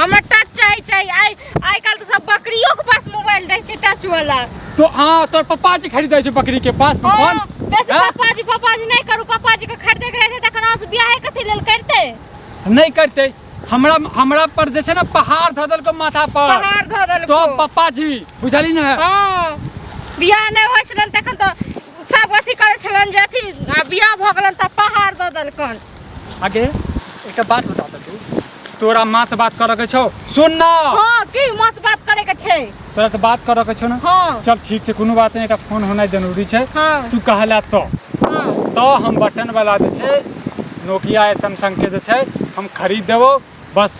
हमर टच चाही चाही आइ आइ काल्हि तऽ सब बकरियो के पास मोबाइल रहै छै टच वाला तो हाँ तोर पप्पा जी खरीद दे छै बकरी के पास फोन हाँ, बेसी हाँ? पापा जी पापा जी नहीं करू पापा जी के खरीदे के रहते तखन अहाँ बियाह कथी लेल करते नहीं करते हमरा हमरा पर जैसे ना पहाड़ धऽ देलको माथा पर पहाड़ धऽ देलको तो पप्पा जी बुझली ना हाँ बियाह नहि होइ छलन तखन तऽ सब अथी करै छलन जे अथी आ बियाह भऽ गेलन तऽ पहाड़ दऽ देलकन आगे एकटा बात बता दे तू तोरा माँ से बात करऽ के छौ सुन ना हाँ की माँ से बात करे के छै तोरा तऽ बात करऽ के छौ ना हाँ चल ठीक छै कोनो बात नहि एकटा फोन होनाइ जरूरी छै हाँ तू कहला तो हाँ तो हम बटन वाला जे छै नोकिया या सैमसंग के जे छै हम खरीद देबो बस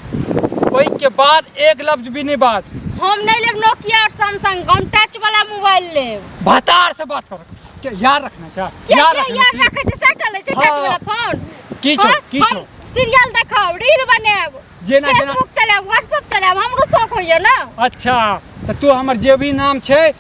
ओहि के बाद एक लफ्ज भी नहीं बात हम नहीं लेब नोकिया और सैमसंग हम टच वाला मोबाइल लेब भतार से बात कर क्या यार रखना चाह क्या यार क्या रखना याद चाहिए। रखे छै सेटल छै टच हाँ। वाला फोन की छो, हाँ, की हम छो। सीरियल देखब रील बनाएब जेना- जेना- फेसबुक चलाएब व्हाट्सएप चलाएब हमरो शौक होइए ना अच्छा तो तू हमर जे भी नाम छै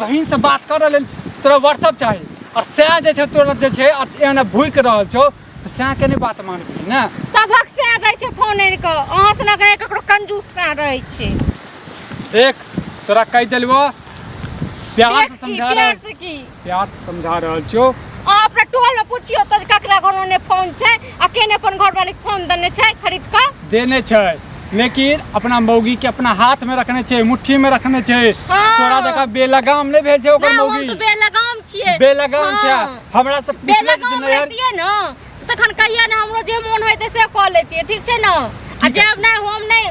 बहिन से बात करऽ लेल तोरा व्हाट्सअप चाही आ सएह जे छै तोरा जे छै आ- एहन भूकि रहल छौ तऽ सएह के नहि बात मानबही ने सभक से दै छै फोन आनि कऽ अहाँ से लगे ककरो कंजूस ना रहै छै देख तोरा कहि देलबो प्यार से देख की, समझा प्यार रहल से की प्यार से समझा रहल छौ अहाँ अपना टोल में पूछियो तऽ ककरा घरमे फोन छै अकेले अपन घर वाले के फोन देने छै खरीद के देने छै लेकिन अपना मौगी के अपना हाथ में रखने छै मुट्ठी में रखने छै हाँ। तोरा जका बेलगाम नहीं भेल छै ओकर ना हम मौगी तो बेलगाम छिए बेलगाम छै हाँ। हमरा से पूछले जे बेलगाम नैहर रहतिए न तखन कहिया ने हमरो जे मोन होइते से कऽ लेतिए ठीक छै न आ जब नहि हम नहि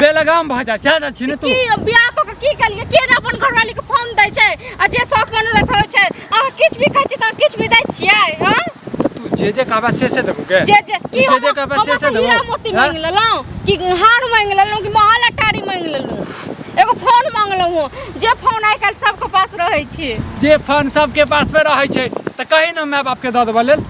बेलगाम भऽ जा जा छी ने तू की अब बियाह कऽ के की कलिए के ने अपन घरवाली के फोन दै छै आ जे शौक मनोरथ होइ छै अहाँ किछु भी कहै छी तऽ किछु भी दै छियै हँ तू जे जे कहबा से से देबू के जे जे की जे जे कहबा से से देबू हीरा मोती हाँ? मांग लेलौं कि हार मांग लेलौं कि महल अटारी मांग लेलौं एगो फोन मांग लेलौं जे फोन आइ काल्हि सबके पास रहै छै जे फोन सबके पास पे रहै छै तऽ कही ने माय बाप के दऽ देबऽ लेल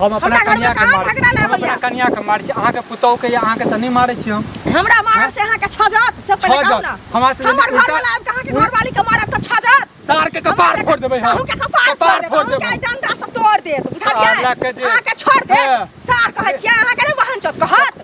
हम अपना हमरा घरमे कनिया के कहाँ मार झगड़ा नहि हम अपना होइया। कनिया के मार छी अहाँ के पुतोह के या अहाँ के त नहीं मारे छी हम हमरा मारब से अहाँके छजत से पहिले छजत। कहू ना हमरा से हमर उल्टा- घरवाला आबि कऽ अहाँके घरवाली के मारत तऽ छजत सार के कपार फोड़ देबै हम अहूँ के कपार फोड़ देब अहूँ के डंडा से तोड़ देब बुझलियै साला के जे- अहाँके छोड़ देब हाँ। सार कहै छियै अहाँके नहि बहन चोत कहत